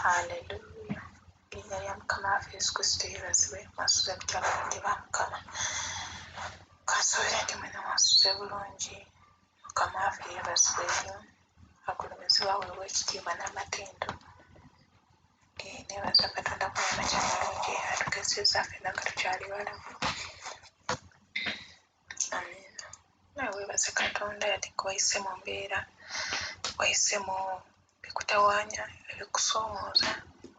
haleluya erinnya lya mukama waffe yesu kristo yebazibwe mwasuze mutya balonde ba mukama kansuubire nti mwena mwasuze bulungi mukama waffe yebazibwe nnyo agulumizibwa weewa ekitiibwa n'amatendo eh, nebaza katonda kumamakya mulungi atugezezza fena nga tukyali balamu webaze katonda yati wayise mu mbeera wayise mu bikutawanya ebikusomooza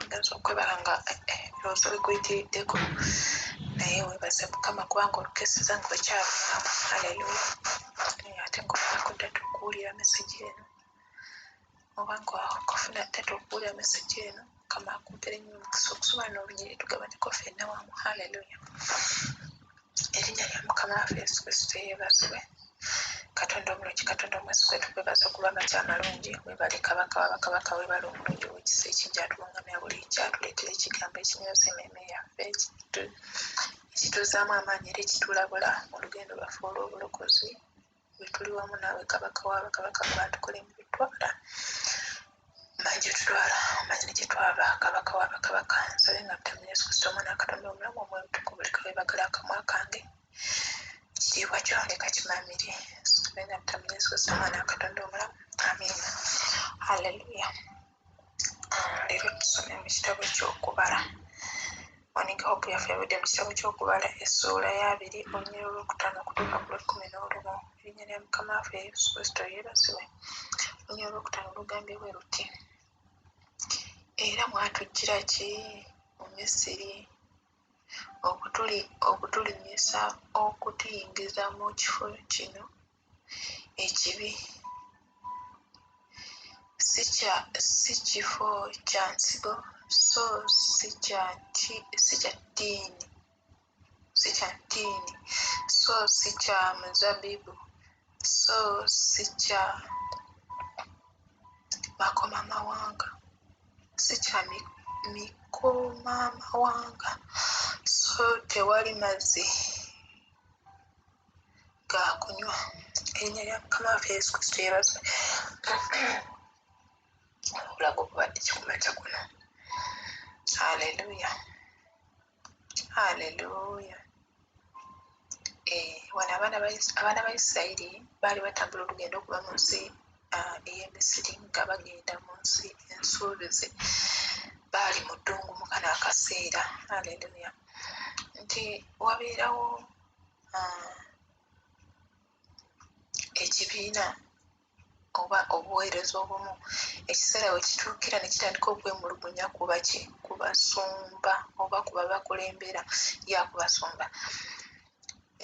ogenza okwebala nga ebirowoozo eh, eh, bikuyitiriddeko naye webaze mukama kubanga olukeseza nga okyavaamu aleluya ate ngaonakuddatu okuwulira mesegi eno oba kufuna taata okuwulira mesegi eno mukama akumpere nyo omukisa okusoma nolunyiri tugabaneko fenna wamu haleluya erinnya lya mukama waffe yesu kristo yebazibwe katonda omulungi katonda omwesi gwetugwebaza okuba amaki amalungi webale kabaka wabakabaka webale omulungi owekisa ekingi atulungamya buli nky atuleetera ekigambo ekinyoza ememe yaffe ekituzaamu amaanyi era ekitulabula mu lugendo lwaffe olw'obulokozi we tuli wamu naawe kabaka waaba kabaka gw'atukole mu bitwala omanyi gye tutwala omanyi ne gye twava kabaka waaba kabaka nsabe nga mutamu yesu kristo omwana akatonda omulamu omwebutuku buli kawebagala akamwa kange ekitiibwa kyo leka kimamire nsabe nga mutamu yesu kristo omwana akatonda omulamu amiina halleluya ah, leero tusome mu kitabo ky'okubala onika hope yaffe yabudde mu kitabo ky'okubala essuula y'abiri olunyira olwokutaano okutuuka ku lwekkumi n'olumu erinnya lya mukama waffe yesu kristo yeebazibwe olunyira olwokutaano lugambye bwe luti era mwatujjira ki mu misiri okutulinnyisa okutuyingiza mu kifo kino ekibi si kifo kya nsigo so si kya ttiini si kya ttiini so si kya muzabibu so si kya makomamawanga si kya mikomamawanga so tewali mazzi ga kunywa erinnya lya mukama waffe yesu kristo yebazwe obulago bubadde kikumakya kuno aleluya aleluya eh, wano abaana ba isirayiri baali batambula olugendo okuba mu nsi ah, ey'emisiri nga bagenda mu nsi ensuubize baali mu ddungu mukana akaseera aleluya nti wabeerawo um, ekibiina oba obuweereza obumu ekiseera we kituukira ne kitandika okwemulugunya kubaki ku basumba oba ku babakulembera ya ku basumba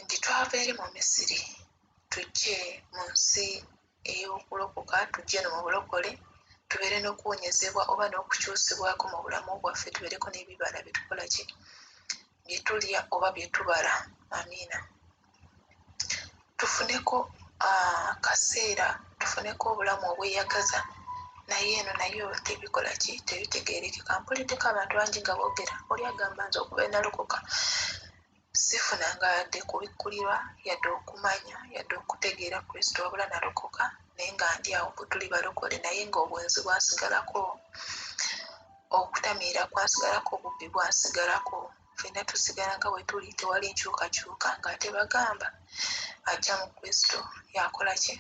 nti twava eri mu misiri tujje mu nsi ey'okulokoka tujje no mu bulokole tubeere n'okuwonyezebwa oba n'okukyusibwako mu bulamu bwaffe tubeereko n'ebibala byetukola ki bye tulya oba bye tubala amiina tufuneko akaseera tufuneko obulamu obweyagaza naye eno nayo tebikola ki tebitegeerekeka mpulideko abantu bangi nga boogera oli agamba nze okuba enalokoka Sifunanga yadde kubikkulirwa, yadde okumanya, yadde okutegeera Kristo, wabula nalokoka naye nga ndi awo. Bwe tuli balokole naye nga obwenzi bwasigalako, okutamiira kwasigalako, obubbi bwasigalako, fenna tusigala nga bwe tuli, tewali nkyukakyuka. Nga ate bagamba ajja mu Kristo, yakola ki?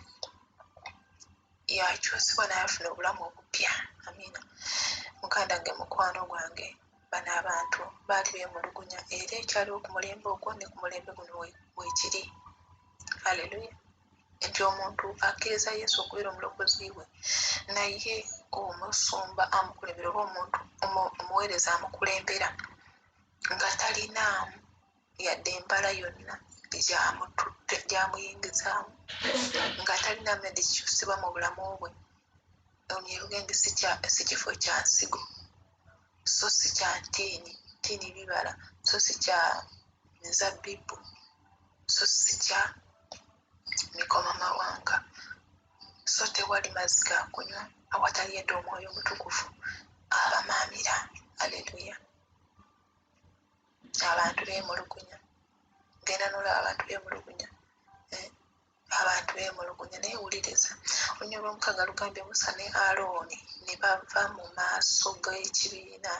yakyusibwa nayafuna obulamu obupya amina muganda nge mukwano gwange bano abantu baali bemulugunya era ekyaliwo ku mulembe ogwo ne ku mulembe guno wekiri aleluya nti omuntu akkiriza yesu okubeera omulokozi we naye omusumba amukulembera oba omuntu omuweereza amukulembera nga talinaamu yadde embala yonna gyamuyingizaamu nga talina medi kikyusibwa mu bulamu bwe ono yaluga nti si kifo kya nsigo so si kya ntiini ntiini bibala so si kya mizabbibu so si kya mikoma mawanga so tewali mazzi ga kunywa awatali yadde omwoyo omutukuvu abamaamira aleluya abantu bemulugunya genda nolaba abantu bemulugunya eh, abantu bemulugunya naye wuliriza olunya lwomukaga lugambye musa ne alooni ne bava mu maaso g'ekibiina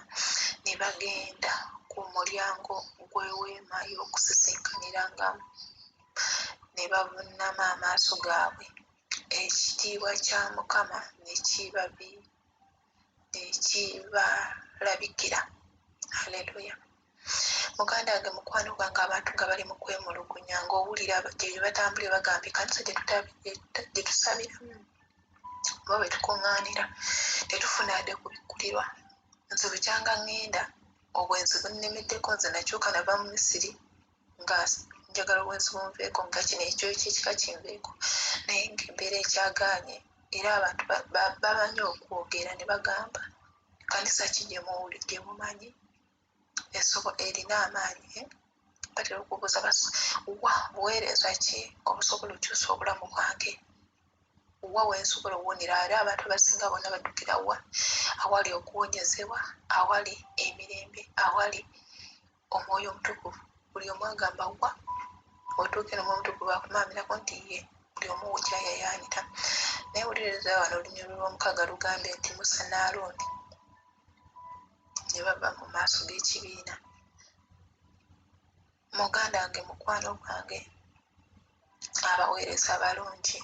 ne bagenda ku mulyango gw'eweema y'okusisinkanyirangamu ne bavunnama amaaso gaabwe ekitiibwa kya mukama ne kibabi ekibalabikira haleluya muganda wange mukwano gwange abantu nga bali mukwemulugunya ngaowulira gyebatambulire bagamba ekanisa gyetusabiramu oba bwetukuŋŋaanira tetufuna ade kubikkulirwa nze bukyanga ŋŋenda obwenzi bunnemeddeko nze nakyuka nava mu misiri nga njagala obwenzi bunveeko nga kino ekyo ekyekika kinveeko naye ngaembeera ekyagaanye era abantu bamanyi okwogera ne bagamba kanisa ki gyemumanyi esobo erina amaanyi eh? batera okubuuza bas wa buweereza ki obusobola okyusa obulamu bwange wa wensobola owonera era abantu abasinga bona baddukira wa awali okuwonyezebwa awali emirembe awali omwoyo omutukuvu buli omu agamba wa otuuke nomwoyo omutukuvu akumamirako nti ye buli omu wukyayayaanira naye wuliriza wano olunyulo lw'omukaaga lugambye nti musa ne alooni ne bava mu maaso g'ekibiina muganda wange mukwano gwange abaweereza abalungi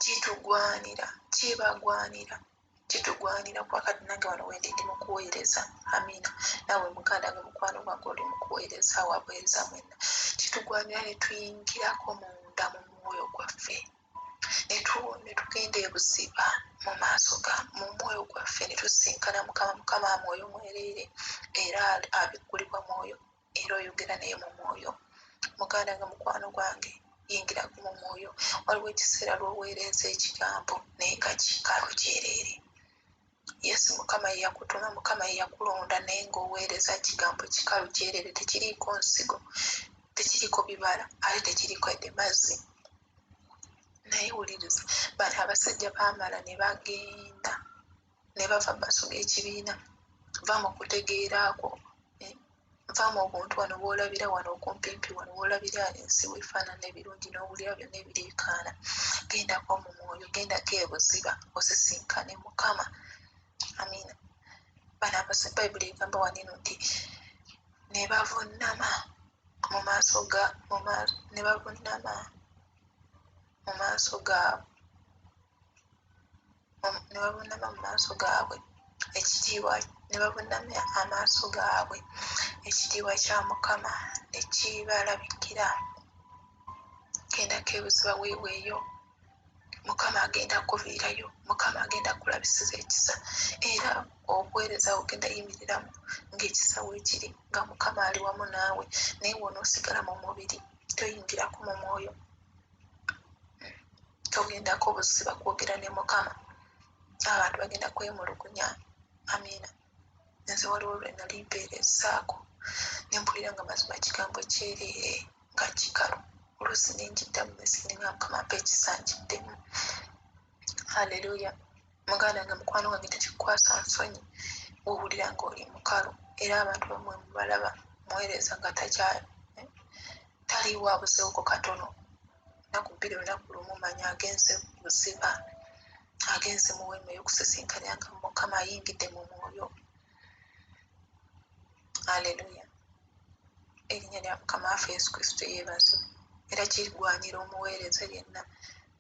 kitugwanira kibagwanira kitugwanira kuba kati nange wano wendi ndi mukuweereza amina nawe muganda nga mukwano gwange oli mukuweereza wabuweereza mwena kitugwanira netuyingirako munda mu mwoyo gwaffe netugenda ebuziba mu maaso ga mu mwoyo gwaffe netusinkana mukama mukama mwoyo mwereere era abikkulibwa mwoyo era oyogera naye mu mwoyo muganda nga mukwano gwange yingiraku mu mwoyo waliwo ekiseera lwoweereza ekigambo naye nga kikalu kyereere yesu mukama yeyakutuma mukama yeyakulonda naye ngaoweereza kigambo kikalu kyereere tekiriiko nsigo tekiriiko bibala ate tekiriiko edde mazzi naye wuliriza bano abasajja baamala ne bagenda ne bava basoga ekibiina va mu kutegeera kwo eh, va mu buntu wano woolabira wano okumpimpi wano woolabira ensi wefaanana ebirungi n'owulira byonna ebiriikaana gendako mu mwoyo gendako ebuziba osisinkane mukama amiina bano abasa bayibuli egamba wanino nti ne bavunnama mu maaso ga ne bavunnama mu maaso gaabwe ne babunama mu maaso gaabwe ekitiibwa ne babunamya amaaso gaabwe ekitiibwa kya mukama ne kibalabikira gendako ebuziba weeweeyo mukama agenda kuviirayo mukama agenda kulabisiza ekisa era obuweereza ogenda yimiriramu ng'ekisa weekiri nga mukama ali wamu naawe naye wonoosigala mu mubiri toyingirako mu mwoyo togendako buziba kwogera ne mukama abantu bagenda kwemulugunya amiina nze waliwo lwe nali mpeera esaako ne mpulira nga mazima kigambo kyereere nga kikalu oluusi ne njiddamu nesininga mukama mpa ekisanjiddemu halleluya muganda nga mukwano wange tekikwasa nsonyi wowulira nga oli mukalu era abantu bamwe mubalaba muweereza nga takyali eh, taliwo abusewoko katono naku bbiri olunaku lumu manya agenze buziba agenze mu weema ey'okusisinkanya nga mukama ayingidde mu mwoyo aleluya erinnya lya mukama waffe yesu kristo yeebazibwa era kigwanira omuweereza yenna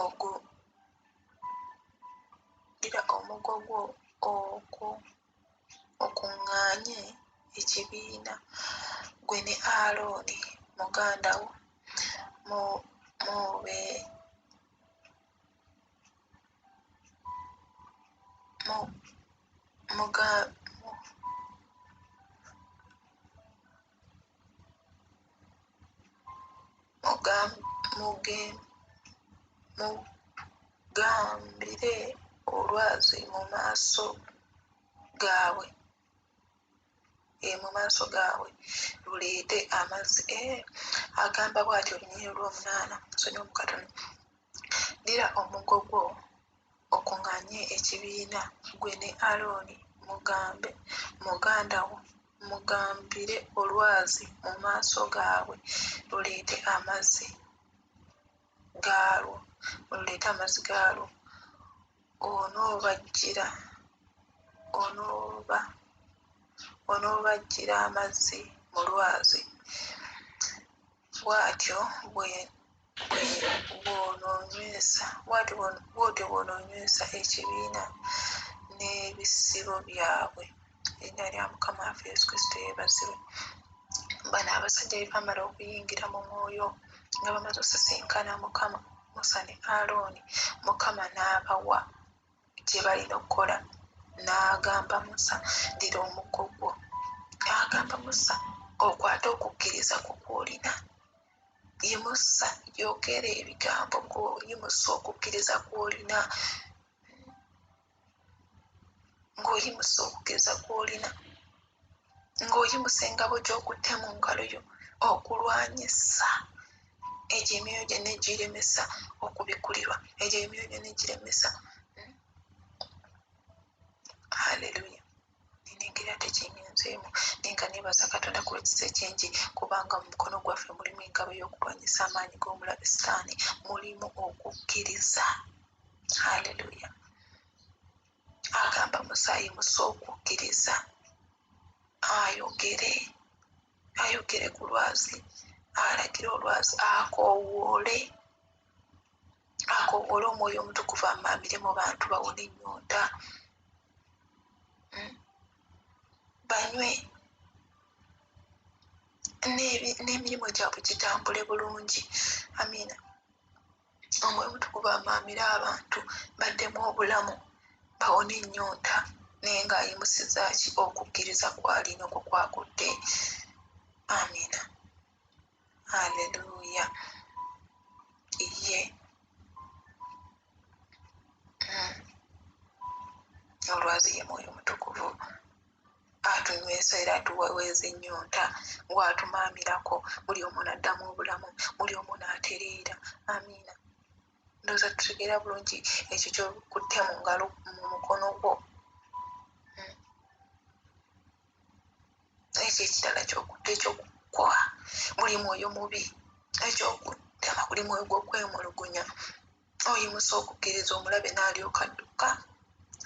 ogu ddira omugo gwo oku okuŋŋaanye ekibiina gwe ne Alooni muganda wo mu mube mu muga Mugam- muge- mugambire olwazi mu maaso gaabwe eh, mu maaso gaabwe luleete amazzi eh, agamba bw'atyo olunyiriri lw'omunaana sonyiwa mu katono ddira omugo gwo Okuŋŋaanye ekibiina, ggwe ne Alooni, mugambe, muganda wo, mugambire olwazi mu maaso gaabwe, luleete amazzi gaalwo, luleete amazzi gaalwo. Onoobaggyira, onooba, onoobaggyira amazzi mu lwazi. Bw'atyo bw'onoonywesa ekibiina n'ebisibo byabwe. Erinnya lya Mukama waffe Yesu Kristo yeebazibwe. Bano abasajja bwe baamala okuyingira mu mwoyo nga bamaze osisinkana Mukama, Musa ne Alooni, Mukama n'abawa. gye balina okukola n'agamba musa ddira omuggo gwo agamba musa okwata okukkiriza ku kwolina yimusa yogera ebigambo ng'oyimusa okukkiriza kwolina ng'oyimusa okukkiriza kwolina ng'oyimusa engabo gy'okutte mu ngalo yo okulwanyisa egyo emyoyo gyonna egiremesa okubikulirwa egyo emyoyo gyonna egiremesa hmm? haleluya nengera tekingenzeemu naye nga nebaza katonda ku lwekisa ekingi kubanga mu mukono gwaffe mulimu engabo y'okulwanyisa amaanyi g'omulabe sitaani mulimu okukkiriza haleluya agamba musaayi musa okukkiriza ayogere ayogere ku lwazi alagire olwazi akoowoole akoowoole omwoyo omutukuvu amaamire mu bantu bawona ennyonta hmm? banywe n'emirimu gyabwe gitambule bulungi amiina omwoyo omutukuvu amaamire abantu baddemu obulamu bawone ennyonta naye ng'ayimusizaki okukkiriza kwalina okwo kwagudde amina aleluya ye hmm. olwazi ye mwoyo omutukuvu atunywesa era atuweweeza ennyonta ng'atumaamirako buli omu n'addamu obulamu buli omu n'atereera amiina ndowooza tutegeera bulungi ekyo kyokutte mu ngalo mu mukono gwo hmm. ekyo ekirala kyokutte ekyokukoa buli mwoyo mubi ekyokutema buli mwoyo gw'okwemulugunya oyimusa okukkiriza omulabe n'alyoka adduka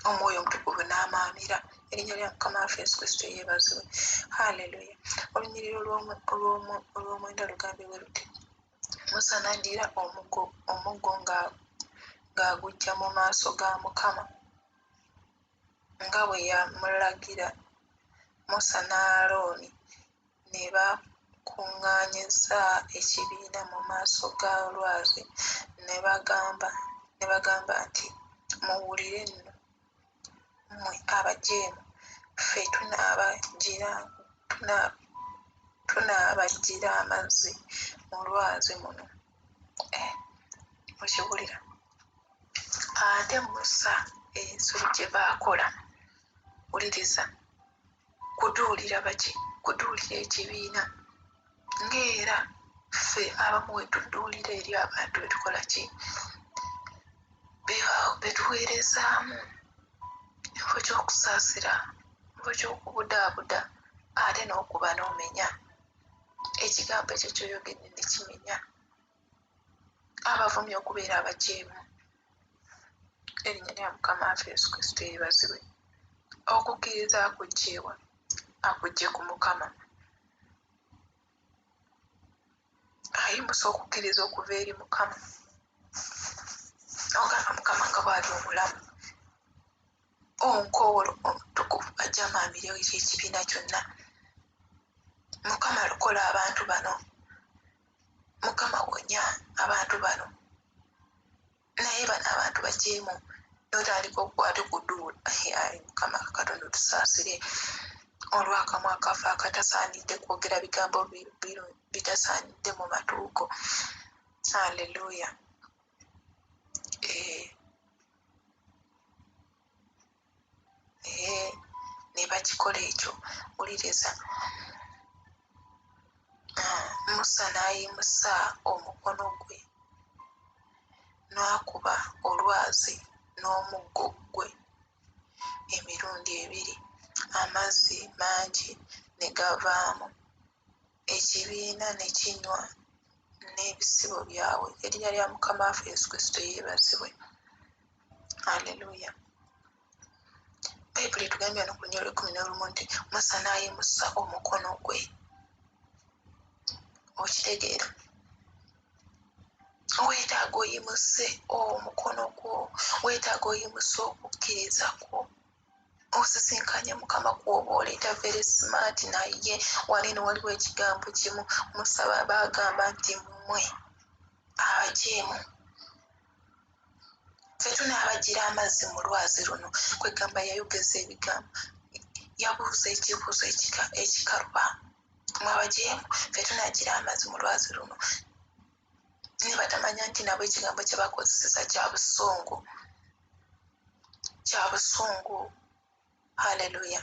omwoyo omutukuvu n'amaamira erinnya lya mukama waffe yesu kristo yeebazibwe halleluya olunyiriro olw'omwenda lugambe bwe luti musa n'addira omuggo ng'agujja mu maaso ga mukama nga bwe yamulagira musa n'alooni ne bakuŋŋaanyizza ekibiina mu maaso ga lwazi ne bagamba, ne bagamba nti, Muwulire nno, mmwe abajeemu, ffe tunaabajjira, tuna, tunaabajjira amazzi mu lwazi muno. Eh, mukiwulira? Ate Musa, ensobi gye baakola, wuliriza, kuduulira baki kuduulira ekibiina ngaera ffe abamu wetuduulira eri abantu betukola ki betuweerezaamu ekifo kyokusaasira ekifo kyokubudaabuda ate n'okuba n'omenya ekigambo ekyo kyoyogedde nekimenya abavumi okubeera abajeemu erinnya lya mukama waffe yesu kristo eribazibwe okukkiriza akugjeewa akugje ku mukama ayimusa okukkiriza okuva eri mukama ogamba mukama nga bwali omulamu onkowolo omutukuvu ajamaamirewo ekyekibiina kyonna mukama lokola abantu bano mukama wonya abantu bano naye bano abantu bajeemu notandika okukwate kuduula ai mukama katonda otusaasire olwakamwa kafe akatasaanidde kwogera bigambo bitasaanidde mu matuuko aleluya eh. naye nebakikola ekyo wuliriza ah, musa n'ayimusa omukono gwe n'akuba olwazi n'omuggo gwe emirundi ebiri amazzi mangi ne gavaamu ekibiina ne kinywa n'ebisibo byabwe. Erinnya lya Mukama waffe Yesu Kristo yeebazibwe. Aleluya. Bayibuli etugambye wano ku lunyolo lw'ekkumi n'olumu nti Musa n'ayimusa omukono gwe. Okitegeera? Weetaaga oyimuse omukono gwo, weetaaga oyimuse okukkiriza kwo. osisinkanye mukama kwoba oleeta very smart naye wali no waliwo ekigambo kimu musaba bagamba nti mumwe abajeemu fetunaabajira amazzi mu lwazi luno kwegamba yayogeza ebigambo yabuuza ekibuuzo ekikaluba mwabajeemu fetunagira amazzi mu lwazi luno naye batamanya nti nabo ekigambo kyebakozeseza kya busungu kya busungu haleluya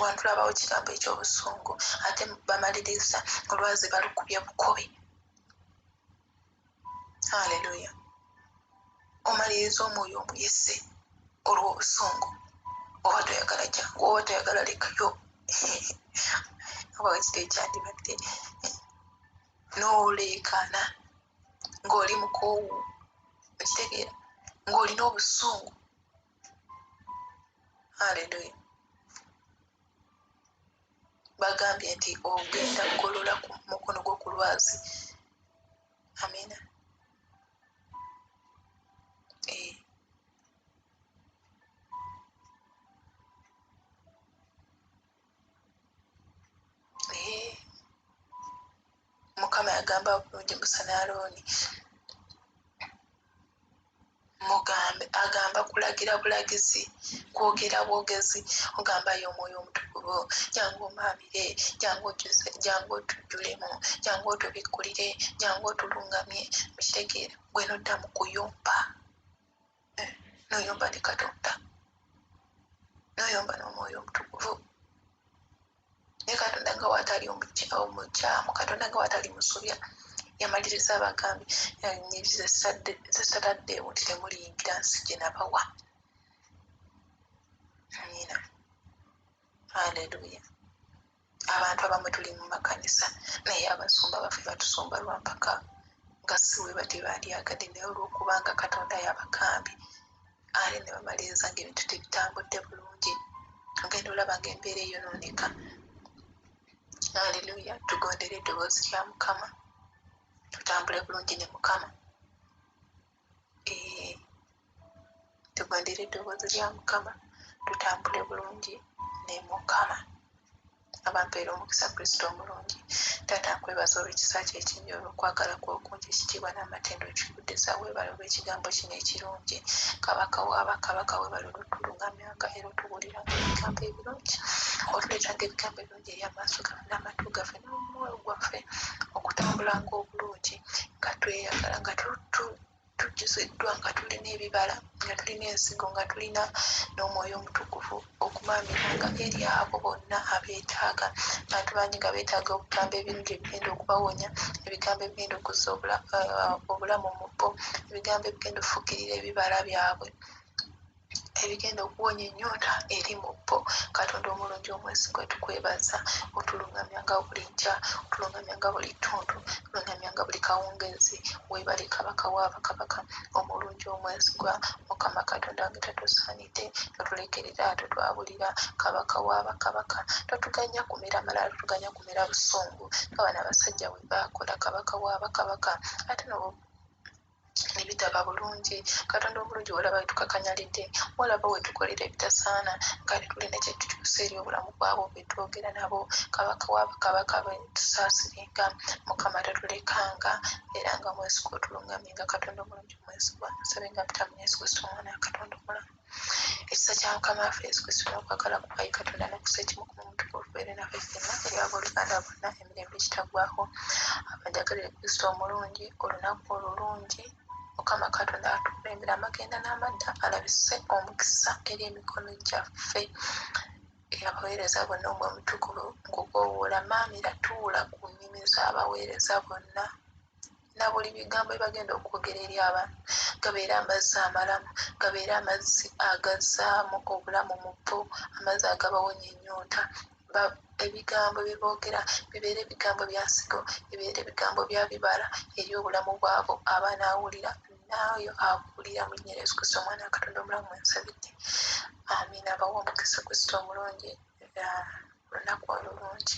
wantu labawo kigambo ekyobusungu ate bamaliriza olwazi balukubye bukobe haleluya omaliriza omwoyo omuyise olwobusungu oba toyagala jangu oba toyagala lekayo oba wekitekyandibadde n'oleekaana ng'oli mukoowu okitegeera ng'olina obusungu aleluya bagambye nti ogenda kugolola ku mukono gwo ku lwazi amina eh. Eh, mukama yagamba bulungi musa ne alooni mugambe agamba kulagira bulagizi kwogera bwogezi ogamba ye omwoyo omutukuvu jangu omaamire jangu ojjuze jangu otujjulemu jangu otubikkulire jangu otulungamye mukitegeera gwe nodda mu kuyomba noyomba ne katonda noyomba n'omwoyo omutukuvu naye katonda nga watali omukyamu katonda nga watali musobya yamaliriza abagambi zesataddeewo nti temuliyingira nsi gye nabawa amina haleluya Abantu abamu tuli mu makanisa naye abasumba baffe batusumba lwa mpaka nga si we batebandyagadde naye olw'okuba nga Katonda yabakaambye ale ne bamaliriza ng'ebintu tebitambudde bulungi ogenda olaba ng'embeera eyonooneka. Aleluya! Tugondere eddoboozi lya Mukama tutambule bulungi ne Mukama. tugondere eddoboozi lya mukama tutambule bulungi ne mukama abampeera omukisa kristo omulungi taata nkwebaza olwekisa kyo ekingi olwokwagala kwokungi ekitiibwa n'amatendo nkikuddiza weebale olw'ekigambo kino ekirungi kabaka wabakabaka weebale olutulungamyanga era otubuuliranga ebigambo ebirungi otuleetanga ebigambo ebirungi eri amaaso gaffe n'amatu gaffe n'omwoyo gwaffe okutambulanga obulungi nga tweyagala nga tujjuziddwa nga tulina ebibala nga tulina ensigo nga tulina n'omwoyo omutukuvu okumamiranga eri abo bonna abeetaaga bantu bangi nga beetaaga obugambo ebirungi ebigenda okubawonya ebigambo ebigenda okuzza eh, obulamu mu bo ebigambo ebigenda okufukirira ebibala byabwe ebigenda okuwonya ennyonta eri mu bo katonda omulungi omwesigwa tukwebaza otulungamyanga buli nkya otulungamyanga buli ttuntu tulungamyanga buli kawungeezi webale kabaka waabakabaka omulungi omwesigwa mukama katonda wange tatusaanidde totulekerera totwabulira kabaka waabakabaka totuganya kumera malala totuganya kumera busungu nga bana abasajja bwe baakola kabaka waabakabaka ate nobo nebitaba bulungi katonda omulungi walaba wetukakanyalidde walaba wetukolera ebitasaana ngaali tulina kyetukyusa eri obulamu bwabo betwogera nabo kabaka wabakabaka betusasirenga mukama tatulekanga era nga mwesika otulungamye nga katonda omulungi mwesibwa nsabe nga mutamu yesu kristo omwana katonda omulamu Ekisa kya Mukama waffe Yesu Kristo n'okwagala kwa Ye Katonda n'okussa ekimu ku muntu kubeere naffe ffenna eri abooluganda bonna emirembe egitaggwaaho. Abanjagalire Kristo omulungi, olunaku olulungi Mukama Katonda atukulembera amagenda n'amadda alabise omukisa eri emikono gyaffe. Abaweereza bonna omwe omutukuvu nkukoowoola, Maamira tuula ku nnimi z'abaweereza bonna. na buli bigambo bye bagenda okwogera eri abantu gabeere amazzi amalamu gabeere amazzi agazzaamu obulamu mu bo amazzi agabawonya ennyonta ebigambo bye boogera bibeere ebigambo bya nsigo bibeere ebigambo bya bibala eri obulamu bwabo aba naawulira naayo abuulira mu linnya yesu kristo omwana wa katonda omulamu ensabidde amiina abawa omukisa kristo omulungi olunaku olulungi